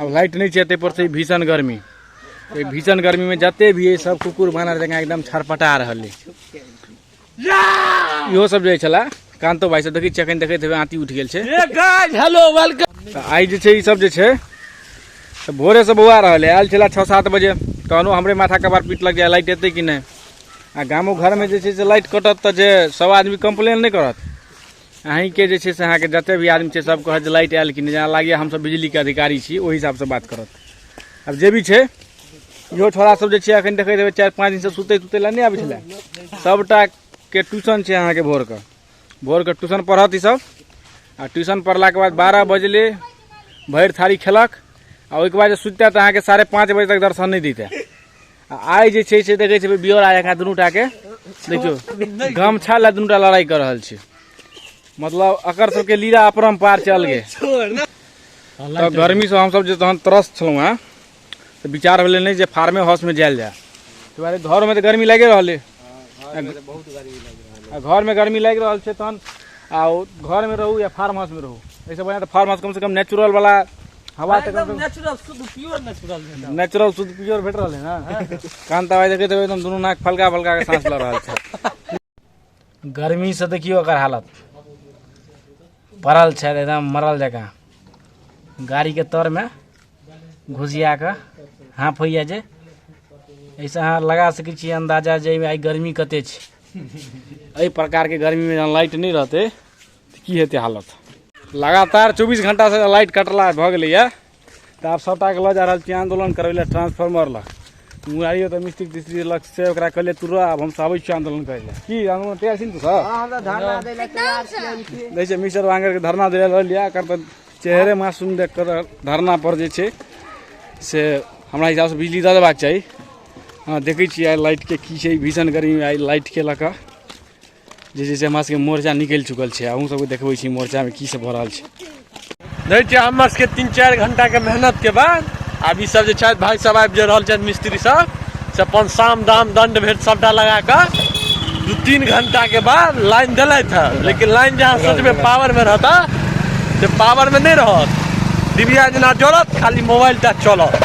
अब लाइट नहीं चाहिए पर से भीषण गर्मी तो भीषण गर्मी में जते भी है सब कुकुर बानर जगह एकदम छरपटा रहा है इहो सब जे छला कांतो भाई से देखी चकन देखे थे आती उठ गेल छे ए गाइस हेलो वेलकम तो आई जे छे ई सब जे छे तो भोरे से बौआ रहले आयल छला 6 7 बजे तहनो हमरे माथा कबार पीट लग जाए लाइट एते कि नहीं आ गामो घर में जे छे से लाइट कटत त जे सब आदमी कंप्लेन नहीं करत अहीँके जे छै से अहाँके जतेक भी आदमी छै सब कहत जे लाइट आयल कि नहि जेना लागैए हमसब बिजलीके अधिकारी छी ओहि हिसाबसँ बात करत आब जे भी छै इहो छोड़ा सब जे छै एखन देखैत हेबै चारि पाँच दिनसँ सुतै सुतै लए नहि आबै छलै सबटाके ट्यूशन छै अहाँके भोरके भोरके ट्यूशन पढ़त ईसब आ ट्यूशन पढ़लाके बाद बारह बजले भरि थारी खेलक आ ओहिके बाद जे सुततै तऽ अहाँके साढ़े पाँच बजे तक दर्शन नहि दैतै आ आइ जे छै से देखै छै बियोरा जकाँ दुनू टाके देखियौ गमछा लए दुनू टा लड़ाइ कऽ रहल छै मतलब एकर सबके लीला अपरम्पार छै अलगे तऽ गर्मीसँ हमसभ जे तहन त्रस्त छलहुँ हेँ तऽ विचार भेलै नहि जे फार्मे हाउसमे जायल जाय ताहि दुआरे घरमे तऽ गर्मी लागि रहलै आ घरमे गर्मी लागि रहल छै तहन आ ओ घरमे रहू या फार्म हाउसमे रहू एहिसँ बढ़िआँ तऽ फार्म हाउस कमसँ कम नेचुरलवला हवा हाँ, एकदम नेचुरल शुद्ध प्योर नेचुरल नेचुरल शुद्ध प्योर भेट रहल है ना हाँ। कान दवाई देखे तो एकदम दोनों नाक फलका फलका के सांस लड़ रहा है गर्मी से देखियो अगर हालत पड़ल है एकदम मरल जगह गाड़ी के तर में घुसिया के हाँफ होइए जे ऐसे अहाँ लगा सकै छी अन्दाजा जाहिमे आइ गर्मी कते छै एहि प्रकारके गर्मीमे जहन लाइट नहि रहतै की हेतै हालत लगातार चौबीस घण्टासँ लाइट कटला भऽ गेलैए तऽ आब सभटाके लऽ जा रहल छी आन्दोलन करबै लए ट्रांसफार्मर लग मुरारियो तऽ मिस्त्री तिस्त्री लग से ओकरा कहले तू रह आब हम आबै छी आन्दोलन करै लए की आन्दोलन तैयार छी ने तू सब दै छै मिस्टर वांगरके धरना दै लए लिअ एकर तऽ चेहरे मासूम देख कऽ धरना पर जे छै से हमरा हिसाबसँ बिजली दऽ देबाक चाही हँ देखै छियै आइ लाइटके की छै भीषण गर्मी आइ लाइटके लऽ कऽ जे छै से हमरा सबके मोर्चा निकलि चुकल छै अहूँ सबके देखबै छी मोर्चामे की सब भऽ रहल छै देखै छियै हमर सबके तीन चारि घंटाके मेहनतके बाद आब ई सब जे छथि भाय सब आबि जे रहल छथि मिस्त्री सब से अपन साम दाम दंड भेट सबटा लगा कऽ दू तीन घंटाके बाद लाइन देलथि हँ लेकिन लाइन जहाँ सोचबै पावरमे रहता से पावरमे नहि रहत डिबिया जेना जरत खाली मोबाइल टा चलत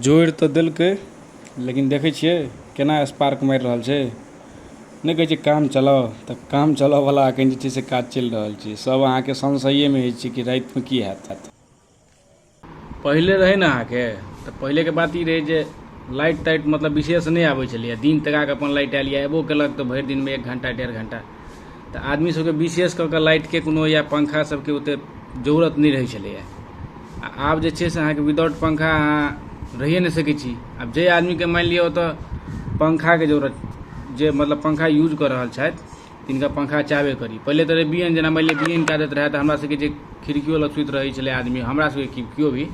जोड़ि तऽ देलकै लेकिन देखै छियै केना स्पार्क मारि रहल छै नहि कहै छै काम चलाउ तऽ काम चलबऽवला एखन जे छै से काज चलि रहल छै सभ अहाँके संशयेमे होइ छै कि रातिमे की हैत पहिले रहै ने अहाँके तऽ पहिलेके बात ई रहै जे लाइट ताइट मतलब विशेष नहि आबै छलैए दिन तकाके अपन लाइट आयल या एबो केलक तऽ भरि दिनमे एक घण्टा डेढ़ घण्टा तऽ आदमी सबके विशेष कऽ कऽ लाइटके कोनो या पंखा सबके ओते जरूरत नहि रहै छलैए आ आब जे छै से अहाँके विदाउट पंखा अहाँ रहिए नहि सकै छी आब जे आदमीके मानि लिअ ओतऽ पंखाके जरूरत जे मतलब पंखा यूज कऽ रहल छथि तिनका पंखा चाहबे करी पहिले तऽ रहै बियन जेना मानि लिअ बियन कए दैत रहै तऽ हमरा सबके जे खिड़कियो लग सुति रहै छलै आदमी हमरा सबके की केओ भी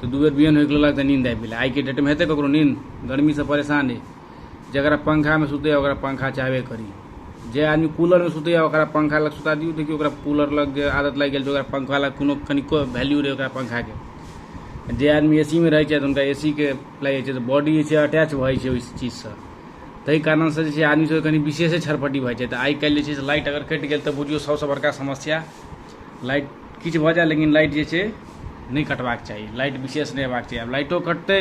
तऽ दू बेर बियन होइके लगलक तऽ नींद आबि गेलै आइके डेटमे हेतै ककरो नींद गर्मीसँ परेशान अइ जरा पंखा में सुते ओकरा पंखा चाहबे करी जे आदमी कूलर में सुते ओकरा पंखा लग सुता दियो देखियो ओकरा कूलर लग जे आदत लग गई ओकरा पंखा लग कोनो कनिको वैल्यू रहे ओकरा पंखा के जे आदमी एसी में रहे छै उनका एसी के लगे छै तो बॉडी जे छै अटैच भए छै ओहि चीज से तही कारण से जे छै आदमी सब कनी विशेषे छरपटी भए छै तो आई कल जे लाइट अगर कटि गई तो बुझियो सबसे बड़का समस्या लाइट किछु भऽ जाए लेकिन लाइट जे छै नहि कटबाक चाही लाइट विशेष नहि हेबाक चाही आब लाइटो कटतै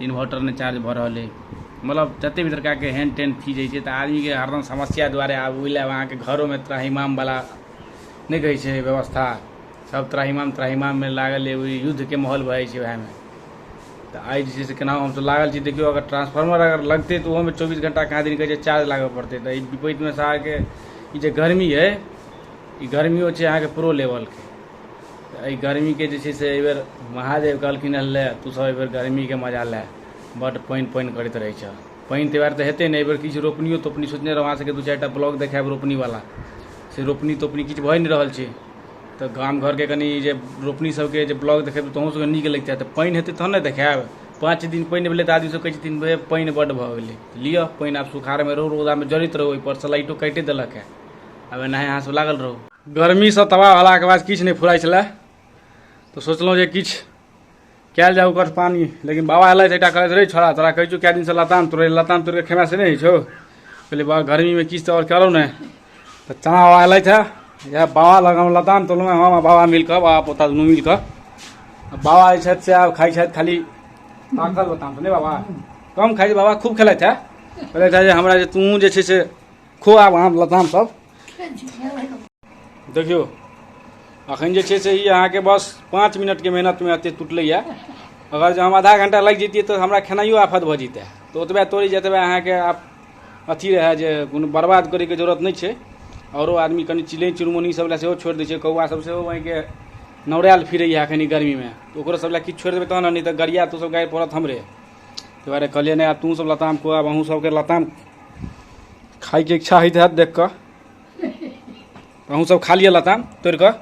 इन्वर्टर नहि चार्ज भऽ रहल अइ मतलब जतेक भी तरहके हैंड टेन फ्यूज होइ छै तऽ आदमीके हरदम समस्या दुआरे आब ओहि लए अहाँके घरोमे त्राहिमामवला नहि कहै छै व्यवस्था सब त्राहिमाम त्राहिमाममे लागल अइ ओहि युद्धके माहौल भऽ जाइ छै उएहमे तऽ आइ जे छै से केना हमसभ लागल छी देखियौ अगर ट्रांसफार्मर अगर लगतै तऽ ओहोमे चौबीस घंटा कहाँ दिन कहै छै चार्ज लागऽ पड़तै तऽ एहि विपरीतमे अहाँके ई जे गर्मी अइ ई गर्मियो छै अहाँके प्रो लेवलके एहि गर्मीके जे छै से एहिबेर महादेव कहलखिन हँ ले तू सब एहिबेर गर्मीके मजा ले बड्ड पानि पानि करैत रहै छह पानि ताहि दुआरे तऽ हेतै नहि एहिबेर किछु रोपनियो तोपनी सोचने रहौ अहाँसभके दू चारि टा ब्लॉग देखायब रोपनीवला से रोपनी तोपनी किछु भए नहि रहल छै तऽ गाम घरके कनि जे रोपनी सबके जे ब्लॉग देखेब तहूँ सबके नीक लगतै तऽ पानि हेतै तहन ने देखायब पाँच दिन पानि भेलै तऽ आदमी सब कहै छथिन भे पानि बड्ड भऽ गेलै लिअ पानि आब सुखाड़मे रहू रौदामे जड़ैत रहू ओहिपर से लाइटो काटिए देलक हँ आब एनाहे अहाँसभ लागल रहू गर्मीसँ तबाह भेलाके बाद किछु नहि फुराइ छलै तऽ सोचलहुँ जे किछु कयल जाय ओकर पानी लेकिन बाबा अयलथि एकटा कहैत रहै छोड़ा तोरा कहै छौ कए दिनसँ लताम तोड़ै लताम तोड़ि कऽ खेमे से नहि होइ छौ कहलियै बाबा गर्मीमे किछु तऽ आओर करौ ने तऽ चना बाबा अयलथि हे इएह बाबा लग हम लताम तोड़लहुँ हम आ बाबा मिलि कऽ बाबा पोता दुनू मिलि कऽ बाबा जे छथि से आब खाइ छथि खाली पाकल लताम तऽ नहि बाबा कम खाइ छै बाबा खूब खेलथि हे कहलथि हे जे हमरा जे तूँ जे छै से खो आब अहाँ लताम सब देखियौ अखन जे छै से ई अहाँके बस पाँच मिनटके मेहनतमे एतेक टुटलैए अगर जे हम आधा घंटा लागि जैतियै तऽ हमरा खेनाइयो आफत भऽ जैतै तऽ ओतबे तोड़ि जतबे अहाँके आब अथी रहए जे कोनो बर्बाद करैके जरूरत नहि छै आओरो आदमी कनि चिलै चुनमुनी सब लए सेहो छोड़ि दै छै कौआ सब सेहो वहीँके नौरायल फिरैए एखन ई गर्मीमे तऽ ओकरो सब लए किछु छोड़ि देबै तहन ने नहि तऽ गरिया तू सब गाड़ि पड़त हमरे ताहि दुआरे कहलिए नहि आब तूँसभ लताम खो आब अहूँसभके लताम खाइके इच्छा होइत हैत देख कऽ अहूँसभ खा लिअ लताम तोड़ि कऽ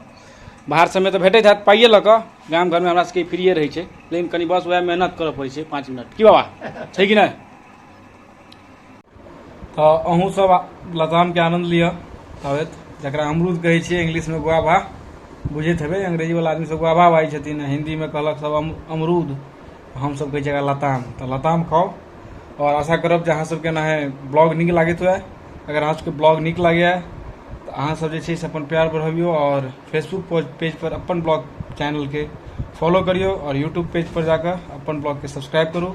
बाहर सभमे तऽ भेटैत हैत पाइए लऽ कऽ गाम घरमे हमरा सभके फ्रिए रहै छै लेकिन कनि बस उएह मेहनत करऽ पड़ै छै पाँच मिनट की बाबा छै कि नहि तऽ अहूँ सब लतामके आनन्द लिअ अबैत जकरा अमरूद कहै छियै इंग्लिशमे गुआभा बुझैत हेबै अंग्रेजीवला आदमी सब गुआभा बाजै छथिन हिन्दीमे कहलक सब अमरूद हमसब कहै छियै एकरा लताम तऽ लताम खाउ आओर आशा करब जे अहाँ सबके ने ब्लॉग नीक लागैत हुए अगर अहाँ सबके ब्लॉग नीक लागैए तऽ अहाँ सब जे छै से अपन प्यार बढ़बियौ आओर फेसबुक पेजपर अपन ब्लॉग चैनलके फॉलो करियौ आओर यूट्यूब पेजपर जाकऽ अपन ब्लॉगके सब्सक्राइब करू